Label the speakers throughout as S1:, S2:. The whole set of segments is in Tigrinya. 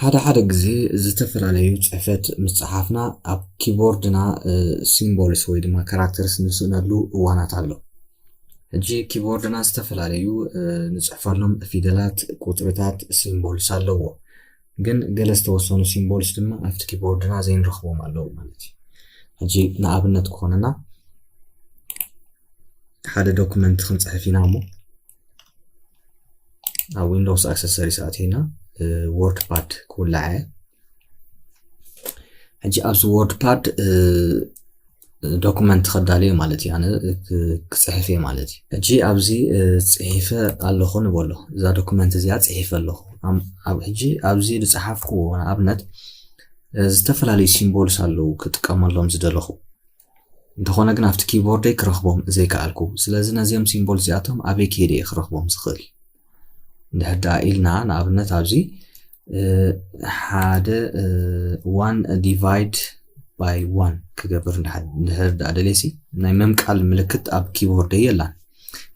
S1: ሓደ ሓደ ግዜ ዝተፈላለዩ ጽሕፈት ምስ ጸሓፍና ኣብ ኪቦርድና ሲምቦልስ ወይ ድማ ካራክተርስ ንስእነሉ እዋናት ኣሎ። ሕጂ ኪቦርድና ዝተፈላለዩ ንጽሕፈሎም ፊደላት፣ ቁጽርታት፣ ሲምቦልስ ኣለዎ። ግን ገለ ዝተወሰኑ ሲምቦልስ ድማ ኣብቲ ኪቦርድና ዘይንረኽቦም ኣለዉ ማለት እዩ ሕጂ ንኣብነት ክኾነና ሓደ ዶክመንት ክንጽሕፍ ኢና እሞ ኣብ ዊንዶውስ ኣክሰሰሪስ ኣቲና ወርድ ፓድ ክውላዕ እየ ሕጂ ኣብዚ ወርድ ፓድ ዶኩመንት ከዳልዮ ማለት እዩ ኣነ ክፅሕፍ እየ ማለት እዩ ሕጂ ኣብዚ ፅሒፈ ኣለኹ ንበሎ እዛ ዶኩመንት እዚኣ ፅሒፈ ኣለኹ ኣብ ሕጂ ኣብዚ ዝፀሓፍኩዎ ንኣብነት ዝተፈላለዩ ሲምቦልስ ኣለዉ ክጥቀመሎም ዝደለኹ እንተኾነ ግን ኣብቲ ኪቦርደይ ክረኽቦም ዘይከኣልኩ ስለዚ ነዚኦም ሲምቦል እዚኣቶም ኣበይ ከይደ እየ ክረኽቦም ዝኽእል እንድሕር ደኣ ኢልና ንኣብነት ኣብዚ ሓደ ዋን ዲቫይድ ባይ ዋን ክገብር እንድሕር ደኣ ደልየሲ ናይ ምምቃል ምልክት ኣብ ኪቦርደይ የላን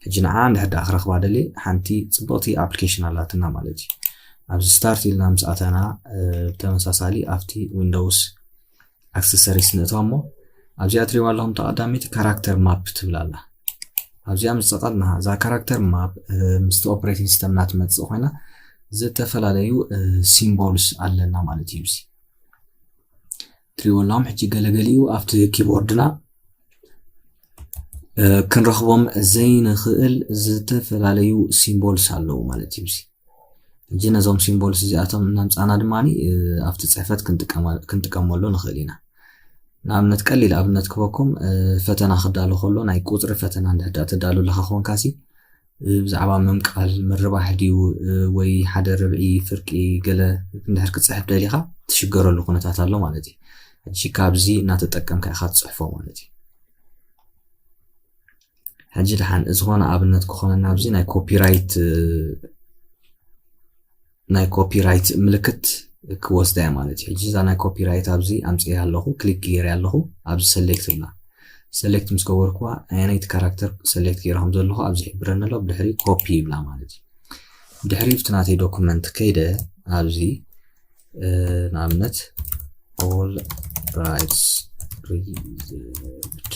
S1: ሕጂ ንዓ እንድሕር ደኣ ክረኽባ ደልየ ሓንቲ ፅብቕቲ ኣፕሊኬሽን ኣላትና ማለት እዩ ኣብዚ ስታርት ኢልና ምስ ኣተና ብተመሳሳሊ ኣብቲ ዊንዶውስ ኣክሰሰሪስ ንእትዋ እሞ ኣብዚኣ ትሪዋ ኣለኹም ተቐዳሚቲ ካራክተር ማፕ ትብል ኣላ ኣብዚኣ ምስ ጸቐጥና እዛ ካራክተር ማፕ ምስቲ ኦፕሬቲንግ ሲስተምና ትመጽእ ኮይና ዝተፈላለዩ ሲምቦልስ ኣለና ማለት እዩ እዚ ትሪዎ ኣለኹም ሕጂ ገለገሊኡ ኣብቲ ኪቦርድና ክንረኽቦም ዘይንኽእል ዝተፈላለዩ ሲምቦልስ ኣለዉ ማለት እዩ እጂ ነዞም ሲምቦልስ እዚኣቶም እናምፃና ድማ ኣብቲ ፅሕፈት ክንጥቀመሉ ንኽእል ኢና ንኣብነት ቀሊል ኣብነት ክበኩም ፈተና ክዳሉ ከሎ ናይ ቁፅሪ ፈተና እንድሕዳ ተዳሉ ኣለኻ ኮንካሲ ብዛዕባ ምምቃል ምርባሕ ድዩ ወይ ሓደ ርብዒ ፍርቂ ገለ እንድሕር ክፅሕፍ ደሊኻ ትሽገረሉ ኩነታት ኣሎ ማለት እዩ እጂ ካብዚ እናተጠቀምካ ኢኻ ትፅሕፎ ማለት እዩ ሕጂ ድሓን ዝኾነ ኣብነት ክኾነና ኣብዚ ናይ ኮፒራይት ናይ ኮፒራይት ምልክት ክወስዳ እያ ማለት እዩ ሕጂ እዛ ናይ ኮፒራይት ኣብዚ ኣምፅያ ኣለኹ ክሊክ ገይረ ኣለኹ ኣብዚ ሰሌክት ልና ሰሌክት ምስ ገበርኩዋ ኣየነይቲ ካራክተር ሰሌክት ገይረ ከም ዘለኹ ኣብዚ ሕብረኒ ኣሎ ብድሕሪ ኮፒ ይብላ ማለት እዩ ድሕሪ ብቲ ናተይ ዶኩመንት ከይደ ኣብዚ ንኣብነት ኦል ራይትስ ሪዘርቭድ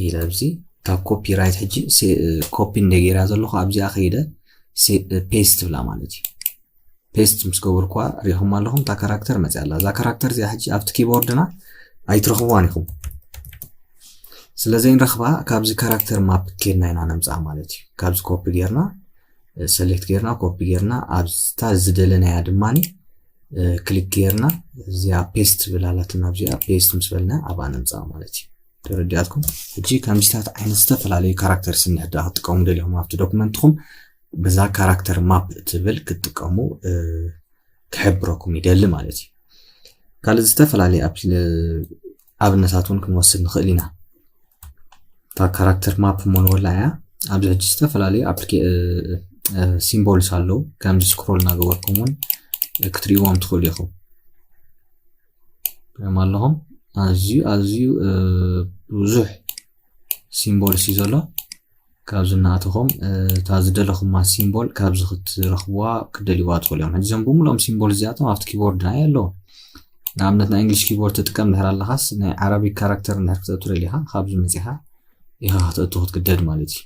S1: ኢለ ኣብዚ እታ ኮፒ ራይት ሕጂ ኮፒ እንደ ገይራ ዘለኹ ኣብዚኣ ከይደ ፔስት ብላ ማለት እዩ ፔስት ምስ ገበርኳ ሪኢኹም ኣለኹም እታ ካራክተር መፅያ ኣላ እዛ ካራክተር እዚኣ ሕጂ ኣብቲ ኪቦርድና ኣይትረኽብዋን ኢኹም ስለዘይንረኽባ ካብዚ ካራክተር ማፕ ኬድና ኢና ነምፅኣ ማለት እዩ ካብዚ ኮፒ ጌርና ሰሌክት ጌርና ኮፒ ጌርና ኣብታ ዝደለናያ ድማ ክሊክ ጌርና እዚኣ ፔስት ብላላትና ኣብዚኣ ፔስት ምስ በልና ኣብኣ ነምፅኣ ማለት እዩ ተረዲኣትኩም ሕጂ ከምዚታት ዓይነት ዝተፈላለዩ ካራክተር ስንሕዳ ክትጥቀሙ ደሊኹም ኣብቲ ዶክመንትኹም በዛ ካራክተር ማፕ ትብል ክትጥቀሙ ክሕብረኩም ይደሊ ማለት እዩ ካልእ ዝተፈላለዩ ኣብነታት እውን ክንወስድ ንኽእል ኢና እታ ካራክተር ማፕ ሞኖላ እያ ኣብዚ ሕጂ ዝተፈላለዩ ሲምቦልስ ኣለዉ ከምዚ ስክሮል እናገበርኩም እውን ክትሪእዎም ትኽእሉ ኢኹም ሪኦም ኣለኹም ኣዝዩ ኣዝዩ ብዙሕ ሲምቦልስ እዩ ዘሎ ካብዚ እናኣተኹም እታ ዝደለኹማ ሲምቦል ካብዚ ክትረኽብዋ ክትደልይዋ ትኽእሉ እዮም ሕጂ እዞም ብምልኦም ሲምቦል እዚኣቶም ኣብቲ ኪቦርድ ናይ ኣለዉ ንኣብነት ናይ እንግሊሽ ኪቦርድ ትጥቀም ድሕር ኣለኻስ ናይ ዓረቢክ ካራክተር እንድሕር ክትእቱ ደሊኻ ካብዚ መፂኻ ኢኻ ክትእቱ ክትግደድ ማለት እዩ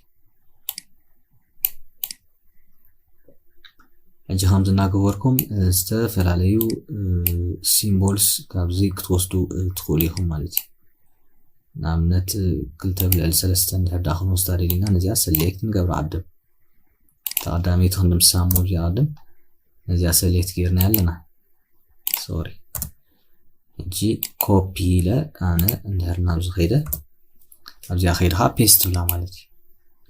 S1: ሕጂ ከምዚ እናገበርኩም ዝተፈላለዩ ሲምቦልስ ካብዚ ክትወስዱ ትኽእሉ ኢኹም ማለት እዩ ንኣብነት ክልተ ብልዕሊ ሰለስተ እንድሕር ድኣ ክንወስዳ ደሊና ነዚኣ ሰሌክት ንገብራ ቅድም እታ ቀዳመይቲ ክንድምስሳ እሞ እዚኣ ቅድም ነዚኣ ሰሌክት ጌርና ኣለና ሶሪ ሕጂ ኮፒ ኢለ ኣነ እንድሕር ናብዚ ከይደ ኣብዚኣ ከይደ ከዓ ፔስት ብላ ማለት እዩ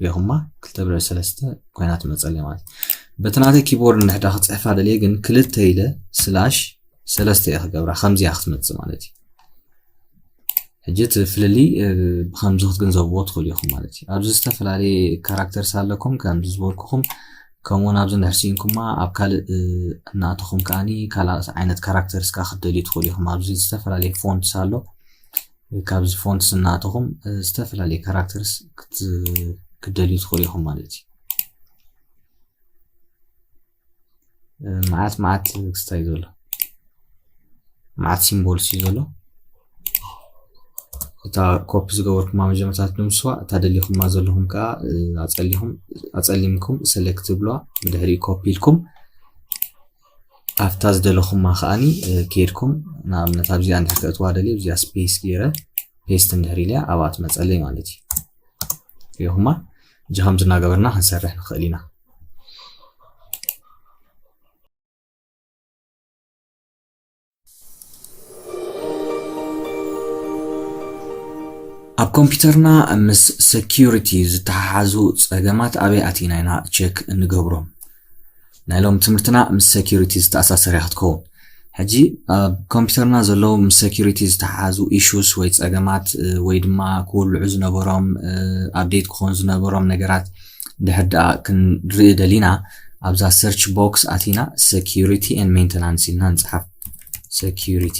S1: ሪኹማ ክልተ ብልዕሊ ሰለስተ ኮይና ትመፀለይ ማለት እዩ በቲ ናተይ ኪቦርድ እንድሕዳ ክፅሕፋ ደልየ ግን ክልተ ኢለ ስላሽ ሰለስተ እየ ክገብራ ከምዚኣ ክትመፅእ ማለት እዩ ሕጂ እቲ ፍልልይ ብከምዚ ክትግንዘብዎ ትኽእሉ ኢኹም ማለት እዩ ኣብዚ ዝተፈላለየ ካራክተርስ ኣለኩም ከምዚ ዝበልኩኹም ከምኡውን ኣብዚ ንሕሲንኩማ ኣብ ካልእ እናእተኹም ከዓኒ ካልእ ዓይነት ካራክተርስ ከዓ ክትደልዩ ትኽእሉ ኢኹም ኣብዚ ዝተፈላለየ ፎንትስ ኣሎ ካብዚ ፎንትስ እናእተኹም ዝተፈላለየ ካራክተርስ ክትደልዩ ትኽእሉ ኢኹም ማለት እዩ መዓት መዓት ክስታይ ዘሎ መዓት ሲምቦል እዩ ዘሎ እታ ኮፒ ዝገበርኩማ መጀመርታ ትድምስዋ እታ ደሊኹማ ዘለኹም ከዓ ኣፀሊኹም ኣፀሊምኩም ሰሌክት ትብልዋ ብድሕሪኡ ኮፒ ኢልኩም ኣብታ ዝደለኹማ ከዓኒ ከይድኩም ንኣብነት ኣብዚኣ እንድሕር ከእትዋ ደልየ እዚኣ ስፔስ ገይረ ፔስት እንድሕር ኢልያ ኣብኣ ትመፀለይ ማለት እዩ ሪኹማ እዚ ከምዚ እናገበርና ክንሰርሕ ንኽእል ኢና። ኣብ ኮምፒውተርና ምስ ሰኪሪቲ ዝተሓሓዙ ጸገማት ኣበይ ኣቲና ኢና ቸክ እንገብሮም? ናይ ሎሚ ትምህርትና ምስ ሴኩሪቲ ዝተኣሳሰር እያ ክትከውን ሕጂ ኣብ ኮምፒውተርና ዘለዉ ምስ ሴኩሪቲ ዝተሓሓዙ ኢሹስ ወይ ጸገማት ወይ ድማ ክውልዑ ዝነበሮም ኣብዴት ክኾኑ ዝነበሮም ነገራት ድሕር ደኣ ክንርኢ ደሊና ኣብዛ ሰርች ቦክስ ኣቲና ሴኩሪቲ ን ሜንተናንስ ኢልና ንጽሓፍ ሴኩሪቲ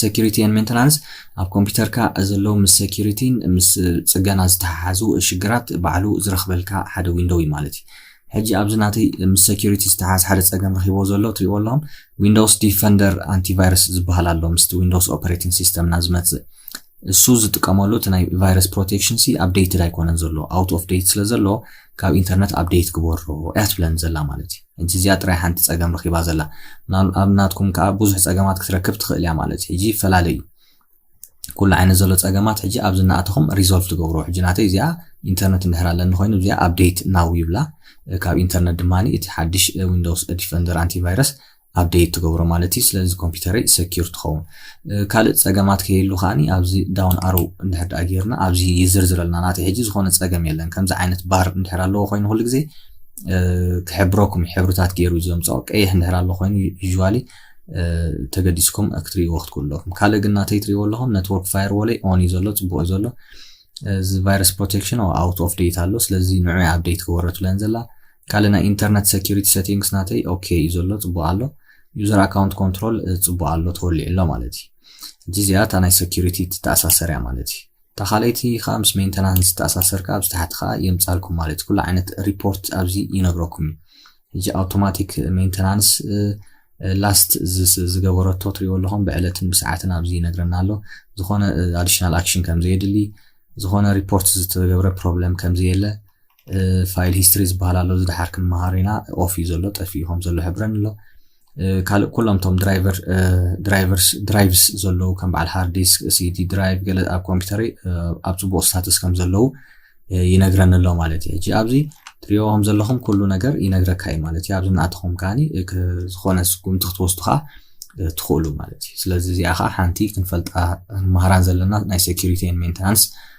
S1: ሰኪሪቲ ኤን ሜንተናንስ ኣብ ኮምፒተርካ ዘለዉ ምስ ሰኪሪቲን ምስ ጽገና ዝተሓሓዙ ሽግራት ባዕሉ ዝረኽበልካ ሓደ ዊንዶው እዩ ማለት እዩ ሕጂ ኣብዚ ናተይ ምስ ሰኪሪቲ ዝተሓሓዝ ሓደ ጸገም ረኺቦ ዘሎ ትሪእዎ ኣለኹም ዊንዶውስ ዲፈንደር ኣንቲቫይረስ ዝበሃል ኣሎ ምስቲ ዊንዶውስ ኦፐሬቲንግ ሲስተምና ዝመጽእ እሱ ዝጥቀመሉ እቲ ናይ ቫይረስ ፕሮቴክሽን ሲ ኣብደይትድ ኣይኮነን ዘሎ ኣውት ኦፍ ደይት ስለ ዘሎ ካብ ኢንተርነት ኣብደይት ግበሮ እያ ትብለኒ ዘላ ማለት እዩ ሕጂ እዚኣ ጥራይ ሓንቲ ጸገም ረኺባ ዘላ ምናል ኣብ ናትኩም ከኣ ብዙሕ ጸገማት ክትረክብ ትኽእል እያ ማለት እዩ ሕጂ ይፈላለ እዩ ኩሉ ዓይነት ዘሎ ጸገማት ሕጂ ኣብዚ እናኣተኹም ሪዞልቭ ትገብሮ ሕጂ ናተይ እዚኣ ኢንተርነት እንድሕር ኣለኒ ኮይኑ እዚኣ ኣብዴት ናው ይብላ ካብ ኢንተርነት ድማ እቲ ሓድሽ ዊንዶውስ ዲፈንደር ኣንቲቫይረስ ኣብዴት ትገብሮ ማለት እዩ ስለዚ ኮምፒውተረይ ሰኪር ትኸውን ካልእ ጸገማት ከየሉ ከዓኒ ኣብዚ ዳውን ኣሮ እንድሕር ዳኣ ጌርና ኣብዚ ይዝርዝረልና ናተይ ሕጂ ዝኾነ ጸገም የለን ከምዚ ዓይነት ባር እንድሕር ኣለዎ ኮይኑ ኩሉ ግዜ ክሕብረኩም ሕብርታት ገይሩ ዘምፅኦ ቀይሕ እንድሕር ኣሎ ኮይኑ ዩዥዋሊ ተገዲስኩም ክትሪእዎ ክትክእሉ ኣለኹም ካልእ ግን ናተይ ትሪእዎ ኣለኹም ነትወርክ ፋየርዎለይ ኦን እዩ ዘሎ ፅቡቅ እዩ ዘሎ እዚ ቫይረስ ፕሮቴክሽን ኣውት ኦፍ ዴት ኣሎ ስለዚ ንዑ ኣብዴት ክወረት ብለን ዘላ ካልእ ናይ ኢንተርነት ሴኪሪቲ ሴቲንግስ ናተይ ኦኬ እዩ ዘሎ ፅቡቅ ኣሎ ዩዘር ኣካውንት ኮንትሮል ፅቡቅ ኣሎ ተወሊዑ ኣሎ ማለት እዩ እዚ እዚኣ እታ ናይ ሴኪሪቲ ትተኣሳሰር እያ ማለት እዩ እታ ካልኣይቲ ከኣ ምስ ሜንተናንስ ዝተኣሳሰር ከኣ ኣብዚ ታሕቲ ከኣ የምጻልኩም ማለት ኩሉ ዓይነት ሪፖርት ኣብዚ ይነግረኩም እዩ እዚ ኣውቶማቲክ ሜንተናንስ ላስት ዝገበረቶ ትሪእዎ ኣለኹም ብዕለትን ብሰዓትን ኣብዚ ይነግረና ኣሎ ዝኾነ ኣዲሽናል ኣክሽን ከም ዘየድሊ ዝኾነ ሪፖርት ዝተገብረ ፕሮብለም ከም ዘየለ ፋይል ሂስትሪ ዝበሃል ኣሎ እዚ ድሓር ክንመሃሮ ኢና ኦፍ እዩ ዘሎ ጠፊኡ ከም ዘሎ ሕብረን ኣሎ ካልእ ኩሎም ቶም ድራይቨር ድራይቨርስ ድራይቭስ ዘለዉ ከም በዓል ሃርድ ዲስክ ሲዲ ድራይቭ ገለ ኣብ ኮምፒውተረይ ኣብ ፅቡቅ ስታትስ ከም ዘለዉ ይነግረኒ ኣሎ ማለት እዩ ሕጂ ኣብዚ ትሪኦ ከም ዘለኹም ኩሉ ነገር ይነግረካ እዩ ማለት እዩ ኣብዚ እናኣተኹም ከዓኒ ዝኾነ ስጉምቲ ክትወስዱ ከዓ ትኽእሉ ማለት እዩ ስለዚ እዚኣ ከዓ ሓንቲ ክንፈልጣ ንመሃራን ዘለና ናይ ሴኪሪቲ ሜንተናንስ